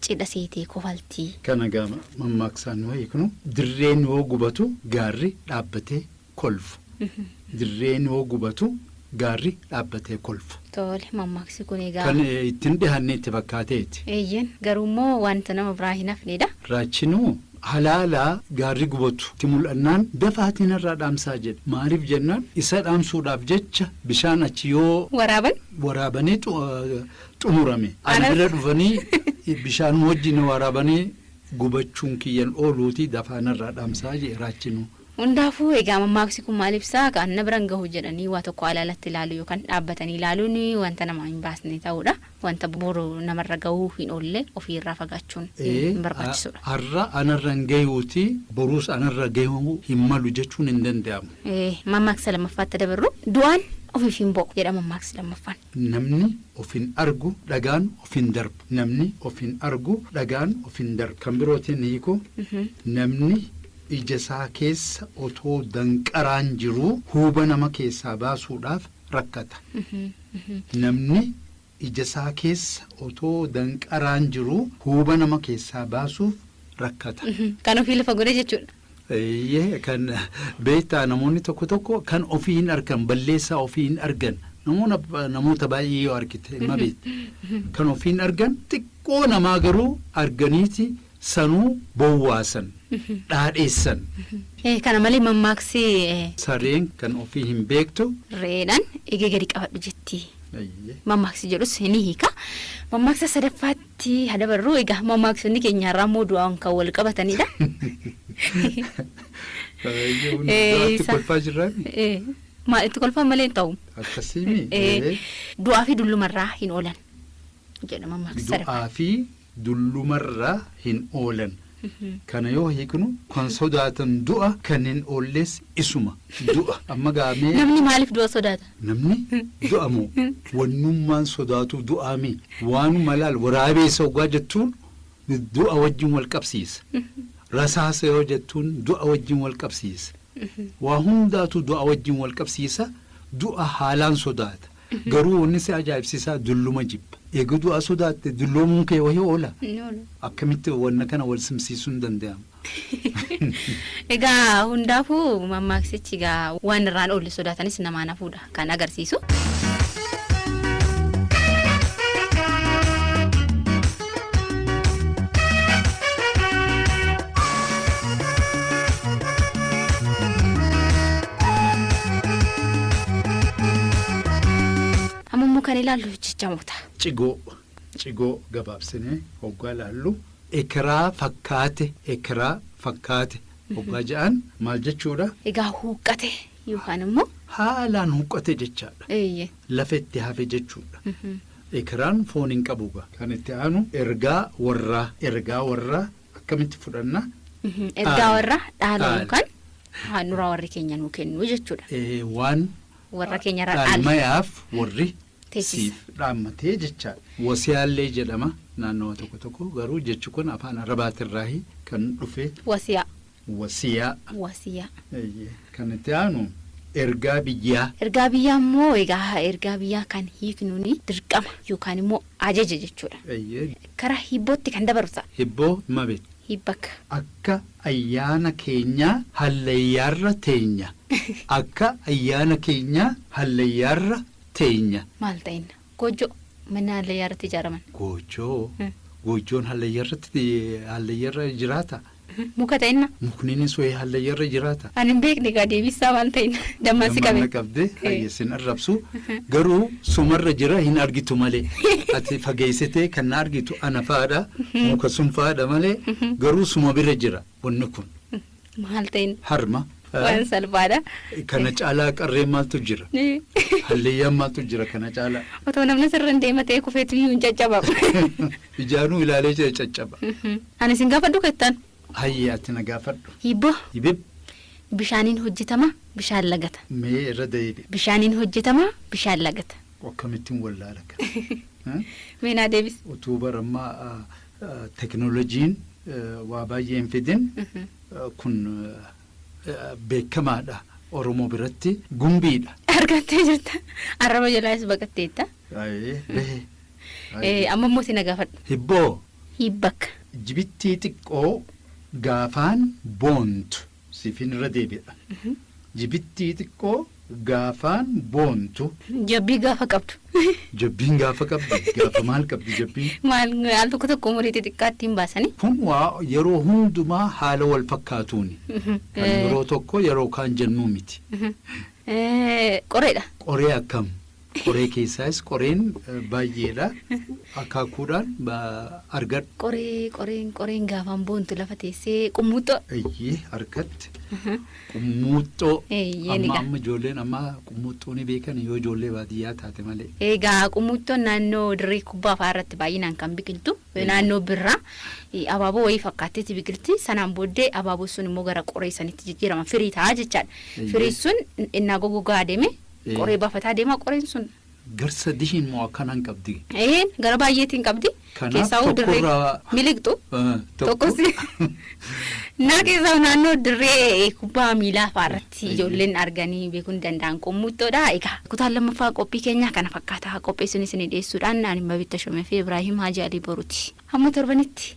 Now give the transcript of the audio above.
cidha seetee kofaltii. Kana egaa mammaaksaan nuu hiiknu dirreen hoo gubatu gaarri dhaabbatee kolfa. Dirreen hoo gubatu gaarri dhaabbatee kolfa. Tole, mammaaksi kun egaa. Kan itti hin dhihaanne itti fakkaateeti. Eeyyen, garuu immoo wanta nama biraa hin hafnedha. Raachinoo halaalaa gaarri gubatu itti mul'annaan dafaatii narraa dhaamsaa jedhe. Maaliif jennaan isa dhaamsuudhaaf jecha bishaan achi yoo. Waraaban. Waraabanii xumurame. Ana bira dhufanii bishaanuma wajjin na waraabanii gubachuun kiyyan ooluutii dafaa narraa dhamsaa jee Raachinuu. Hundaafuu egaa mammaaksi kun maal ibsa? Kan na biran gahu jedhanii waa tokko alaalatti ilaaluu yookan dhaabbatanii ilaaluun wanta namaa hin baasne ta'uudha. Wanta boru namarra gahuu hin oolle ofii irraa fagaachuun hin barbaachisuudha. Har'a anarra hin gayuuti boruus anarra gahuu hin malu jechuun hin danda'amu. Mammaaksa lammaffaatti dabarru. Du'aan ofiif hin bo'u jedha mammaaksi lammaffaan. Namni of hin argu dhagaan of hin darbu Namni of hin argu dhagaan of hin darbu Kan birootiin hiikuu Namni ija isaa keessa otoo danqaraan jiruu huuba nama keessaa baasuudhaaf rakkata Namni ija isaa keessa otoo danqaraan jiruu huuba nama keessaa baasuuf rakkata. Kan ofii lafa godhee jechuudha. Eeyyee kan beektaa namoonni tokko tokko kan ofii hin arkan balleessaa ofii hin argan namoota namoota baay'ee yoo argite ma beekta kan ofii hin argan xiqqoo namaa garuu arganiiti sanuu bowwaasan dhaadheessan Eh, Kana malee mammaaksi eh, sareen kan ofii hin beektu re'eedhaan eegee gadi qabadhu jetti. eeyyee. Mammaaksi jedhus ni hiika. Mammaaksa sadaffaatti tti haa dabarru. Egaa mammaaksonni keenya har'aa immoo du'aan kan wal qabatanidha. Baay'ee hundi Eh, du'aatti isa- kolfaa jirraan Eh, Maal itti kolfaan malee hin ta'u. akkasii mi? Eh, Du'aa fi dullumarraa hin oolan jedha mammaaksa sadaffaa. Du'aa fi dullumarraa hin oolan. Kana yoo hiiknu kan sodaatan du'a kan hin oollees isuma. Du'a. Amma gaa mee. Namni maaliif du'a sodaata? Namni du'a moo wannummaan sodaatuu du'aa mii? Waanuma laal waraabeessa oggaa jettuun du'a wajjin wal qabsiisa. Rasaasa yoo jettuun du'a wajjin wal qabsiisa. Waa hundaatu du'a wajjin wal qabsiisa, du'a haalaan sodaata. Garuu wanni si ajaa'ibsiisaa dulluma jibba. Eega du'a sodaatte dulloomuun kee wahi oola? Hin oolu. Akkamitti wanna kana wal simsiisuun danda'ama? Egaa hundaafuu mammaaksichi egaa waan irraa hin oolle sodaatanis namaan hafuudha kan agarsiisu. Amma immoo kan ilaallu jechamoota. Cigoo Cigoo gabaabsinee hoggaa ilaallu ekeraa fakkaate ekeraa fakkaate hoggaa ja'an maal jechuudha? Egaa huuqqate yookaan immoo Haalaan huqqate jechaadha. eeyyee. Lafa itti hafe jechuudha. Ekeraan foon hin qabu ga. Kan itti aanu ergaa warraa ergaa warraa akkamitti fudhanna? Mhm, Ergaa Dhaala. warra dhaala Dhaala. yookaan handhuraa warri keenya nuu kennu jechuudha. Ee, waan Warra keenya irra dhaale. dhaalmayaaf warri Teessisa. siif dhaammatee jechaadha. Wasiyaallee jedhama naannawa tokko tokko garuu jechi kun afaan arabaatirraahi kan dhufe Wasiyaa. Wasiyaa. Wasiyaa. Eeyyee. Kan itti aanu ergaa biyyaa. Ergaa biyyaa immoo egaa ergaa biyyaa kan hiiknuun dirqama yookaan immoo ajaja jechuudha. Eeyyee. Karaa hibbootti kan dabaru ta'a. Hibboo ma beekta? Hibbakka. Akka ayyaana keenyaa hallayyaarra teenya. Akka ayyaana keenyaa hallayyaarra teenya. Maal ta'inna? Goojjoo manni hallayyaa irratti ijaaraman. Goojjoo Goojjoon hallayyaa irratti hallayyaa irra jiraata? Muka ta'inna. Mukni inni sohe hallayyaa irra jiraata? Ani hin beekne egaa deebisaa maal ta'inna dammaan si qabe. Dammaan na qabde hayyee sin arrabsu garuu sumarra jira hin argitu malee ati fageessitee kan na argitu ana fa'aadha muka sun fa'aadha malee garuu suma bira jira. wanni kun. Maal ta'in Harma. waan salphaadha. Kana caalaa qarree maaltu jira? Halleeyyaan maaltu jira kana caalaa? Otoo namni sirra hin deema ta'ee kufeetu iyyuu hin caccabamu. Ijaanuu ilaalee jira caccaba. Ani isin gaafadhu kettan. Hayyee ati na gaafadhu. Hibboo Hibib bishaaniin hojjetama bishaan lagata. mee irra deebi. Bishaaniin hojjetama bishaan lagata. Akkamittiin wallaala kana? Mee naa deebis. Utuu barammaa Teknolojiin waa baay'ee hin fidin kun beekamaadha Oromoo biratti gumbiidha. Argattee jirta. Arraba jalaas baqatteetta. Ayii behe. Eh, Amma immoo si na gaafadhu. Hibboo Hiibbakka. jibittii xiqqoo gaafaan boontu Siifin irra deebi'a. Jibittii xiqqoo gaafaan boontu. Jabbii gaafa qabdu. Jabbiin gaafa qabdi. Gaafa maal qabdi jabbiin? Maal al tokko tokko umurii xixiqqaa ittiin baasanii. Kun waa yeroo hundumaa haala wal fakkaatuuni. Kan yeroo tokko yeroo kaan jennuu miti. Qoreedha. Qoree akkam? Qoree keessaas qoreen baay'eedha. Akaakuudhaan argadhu. Qoree qoreen qoreen gaafaan boontu lafa teessee qummuuxxoo. Eeyyee harkatti qummuuxxoo. Eeyyee Amma amma ijoolleen amma qummuuxxoo ni beekan yoo ijoollee baadiyyaa taate malee. Egaa qummuuxxoon naannoo dirree kubbaa fa'aa irratti baay'inaan kan biqiltu naannoo birraa abaaboo wayii fakkaatteeti biqilti sanaan booddee abaaboo sun immoo gara qoree sanitti jijjiirama firii ta'a jechaadha. Firii sun innaa gogogaa adeeme Qoree bafataa deemaa qoreen sun. Gar sadishiin moo akkana hin qabdi? Ee gara baay'eetiin qabdi. Kanaaf Keessaa hoo dirree tokkorraa- miliqxu. Eh, Tokko si. Naa keessaa naannoo dirree kubbaa miilaa fa'aa irratti Eeyyee. ijoolleen arganii beekuu hin danda'an qummuxxoodha. Egaa kutaan lammaffaa qophii keenyaa kana fakkaata. Qopheessuun isin dhiyeessuudhaan ani Mabitta Shomee fi Ibraahim Haji Alii Boruuti. Hamma torbanitti.